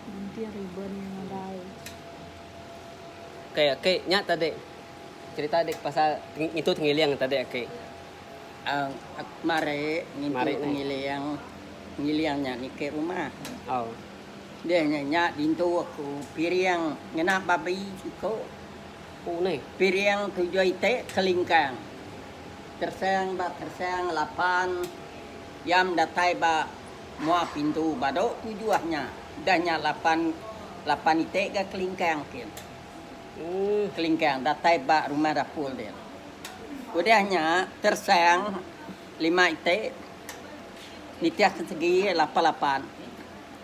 Gunting riben iya nadai. Okey okey nya tadi cerita dik pasal ngintu tengiling tadi okey. Um aku mari ngintu tengiling, tengiling nya niki rumah. Oh. Deh nya nya dintu aku piring ngena babi siko. Oh neh. Piring tujuh iti kelingkang. Tersang ba tersang lapan yam datai ba. Mua pintu bado tu juah nya. Udah nya lapan lapan iti ga kelingkang kin. Uuh kelingkang datai ba rumah dapul din. Udah nya tersang lima iti nitih ke segi lapan lapan.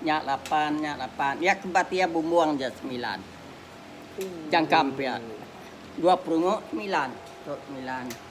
Nya lapan nya lapan iya ke bat iya bumbung ja semilan. Jangkam pia dua perungu semilan tu semilan.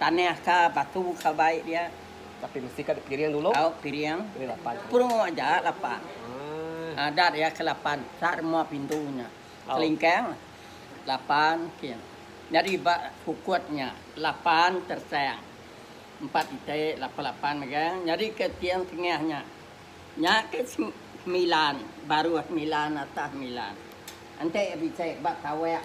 Tanah ka batu ka bai dia. Tapi mesti ka dipiring dulu. Au piring. Pilih lapan. Purung aja lapan. Haa. Adat iya ke lapan sa rumah pintu nya. Au. Kelingkang lapan kin. Nyadi ba kukut nya lapan tersang. Empat ite lapan lapan megang nyadi ke tiang tengah nya. Nya ke sem semilan baruh semilan atas semilan. Enti bisi ba tawak.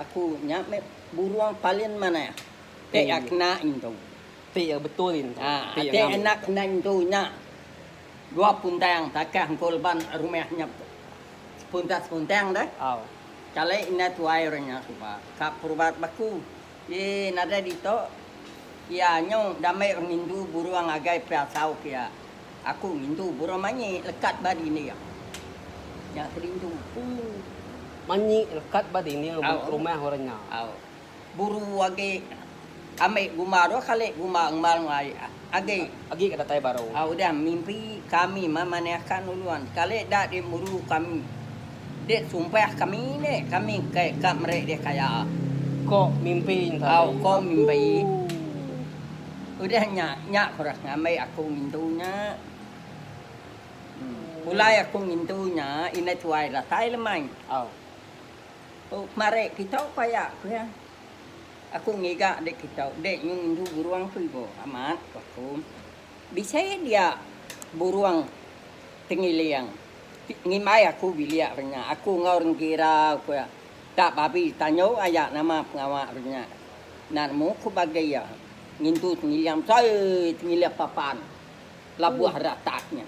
Aku nya meh burung palin manah ti iya kena intu. Ti iya betul intu. Ti iya anak kena intu nya dua puntang takah engku leban rumah nya puntas puntang deh. Kali indai tuai orang nya suba ka perubat ba aku, ye nadai ditu iya nyu damai orang indu burung agai pasau ke iya. Aku ngintu burung manyi lekat ba dinding iya. Nya aku rindu. Ooh. Manyi lekat ba dinding Au. rumah orang nya. Au. Buru agi ambi gumba dua kali gumba ngembar enggau ai agi. Agi ke datai baru. Au udah mimpi kami memanahkan ulun sekali enda dimburu kami. Dek sumpah kami ni kami ke ka meri deh kaya. Ko mimpi nya tadi. Au ko mimpi. Ooh. Udah nya, nya kuras ngambi aku ngintu nya. Pulai aku ngintu nya, indai tuai datai lemai. Tu kemari kitok paya, ku iya. Aku ngiga dik kitok, dik nyu ngintu burung ku ibu. Amat, ku aku. Bisi dia burung tengiling. Ngimbai aku bilik hari nya. Aku enggau orang kira, ku iya. Ka babi tanyo aya nama pengawa hari nya. Narmo ku bage iya, ngintu tengiling besai tengiling papan labuh ratak nya.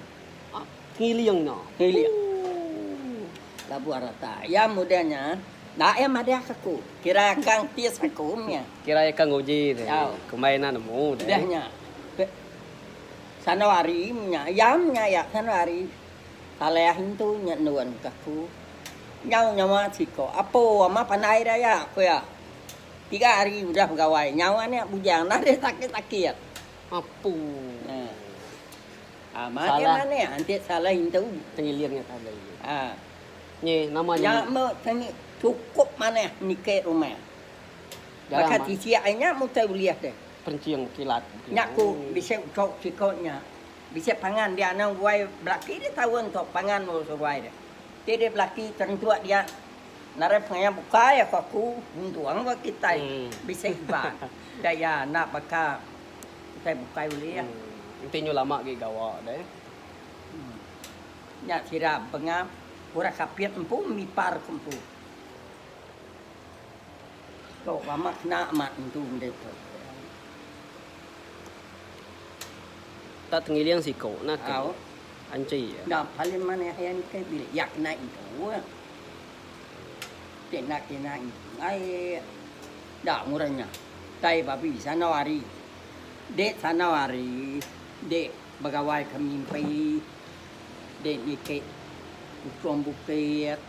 Hah, tengiling nya. Tengiling. Ooh. Labuh ratak. Iya mudih nya, enda iya madahka aku. Kira ka entis aku nya. Kira iya ka nguji deh. Au. Kumbai enda nemu deh. Udah nya. Pe sandau hari nya, iya nya iya sandau hari Saleah intu nya enun ka aku. Nyau nyawa siko. Apo amat pandai deh iya, ku iya. Tiga hari udah begawai, nyau anak bujang nadai sakit-sakit. Apuuh. Ah, makai Salah. manik antik salah intu. Tengilir nya tadi. Ah. Nye nama nya. Nya meh seni cukup manah nike rumah. Jarang Baka man. tisi ai nya mutai ulih deh. Perencing kilat. Nya ku bisi uco siko nya. Bisi pangan dia anang guai belaki dia taun tu pangan lalu seruai dia. Ti dia belaki terentuk dia. Narai pengaya bukai aku aku nuntung ba kitai bisi hiban da iya enda baka kitai bukai ulih. Enti nyu lama agi gawa deh. Nya sida benga orang kapit empu mipar ke empu. Tu lama kena amat tentu mende tu. Enda tengiling siko nake. Au. Anchi. Enda paling manah iya nike bila iya kena intu. Kena kena ingai da murah nya tai babi sanau ari dek sanau ari dek begawai ke mimpi dek niki ukum bukit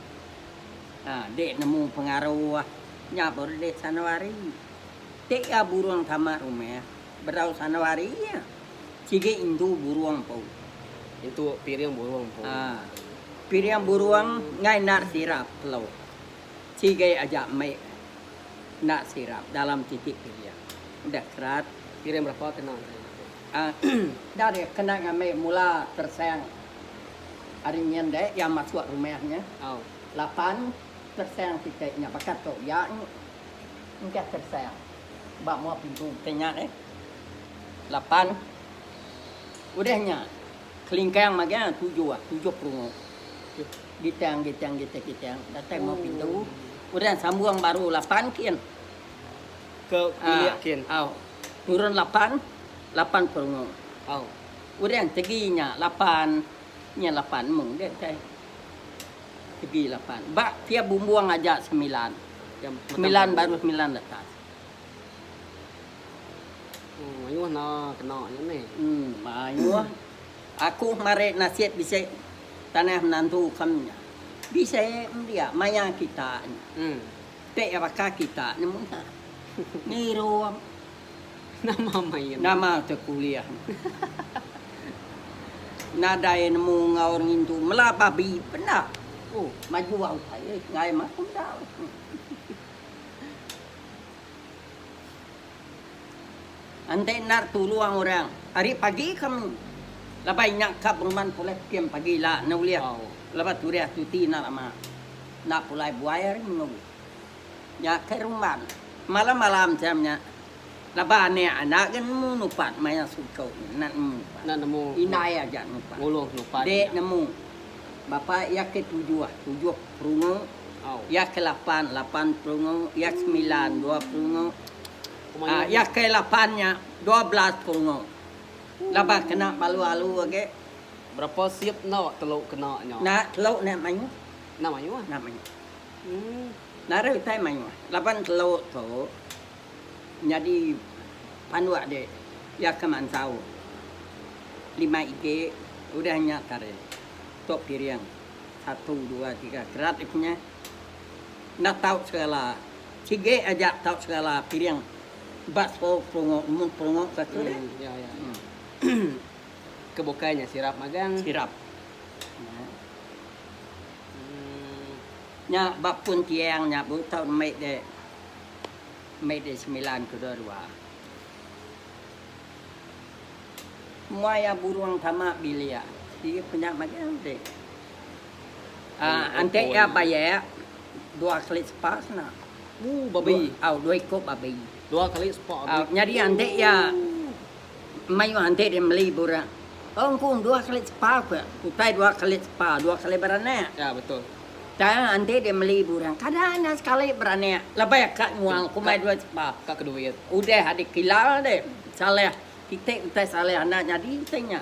ha dek nemu pengaruh nya baru dek sanau ari dek iya burung tama rumah. Berau sandau hari iya. Sigi intu burung empu. Intu piring burung empu. Ha. Piring burung enggak enda sirap telu. Sigi aja mik enda sirap dalam siti piring. Deh kerat. Piring berapa kena ari nya tu? Ha. Enda deh kena ngambi mula tersang ari nya enda iya masuk rumah nya. Au. Lapan tersang siti nya baka tu iya engkah tersang. ba mua pintu kitai nya deh. Lapan udah nya kelingkang magi ah tujuh ah, tujuh perungu. Gitang gitang gitang gitang datai mua pintu. Udah sambung baru lapan kin. Ke bilik kin. Ah, au. Turun lapan, lapan perungu. Au. Udah tegi nya lapan, nya lapan mung deh kitai. Segi lapan. Ba pia bumbung aja semilan. Semilan baru semilan letas. Oh mayuh enda kena nya meh. Em mayuh. Aku marik nasib bisi tanah menantu kam nya. Bisi em dia maya kita nya. Ti baka kita nya munah. Ngirup. Nama main tu. Nama ke kuliah ne. Nadai nemu enggau orang ngintu mela babi penda. Oh majua utai ai ngagai mah pun enda ai. Enti endar tulung orang ari pagi ke mi laban inya ka penguman pulai pekeng pagi ila ne ulih laban tureh tuti enda lama. Enda pulai buai ari mengau. Nya ke rumban malam-malam jam nya laban anak enda ga nemu nupan maya suku enda nemu nupan indai aja nupan dek nemu bapa iya ke tujuh tujuh perungu iya ke lapan lapan perungu iya ke semilan dua perungu iya ke lapan nya dua belas perungu laban kena balu-alu agi berapa sip enda telu kena nya enda telu enda mayuh enda mayuh. Narai utai mayuh laban telo tu nyadi panduk dik iya ke mansau lima itik udah nya tadi tok piring satu dua tiga kerat iko nya enda tau segala sigi aja tau segala piring ba sepo pelongo mun pelongo ke tu deh ke bukai nya sirap magang. Nya ba pun tiang nya bu taun Mei di Mei di semilan kedua dua. Mua iya burung tama bilik iya ku nya mega udi. Ante iya bayak dua kali sepa sena. Dua iko babi. Nyadi ante iya. Mayuh enti dia meli burak. Tau engkung dua kali tepa ke. Utai dua kali tepa dua kali beranak. Ya betul. Tang enti dia meli burak kada nya sekali beranak lebih ka nyual ke umai dua tepa. Ka ke duit. Udah dikila deh salah kite utai salah anak nyadi ti nya.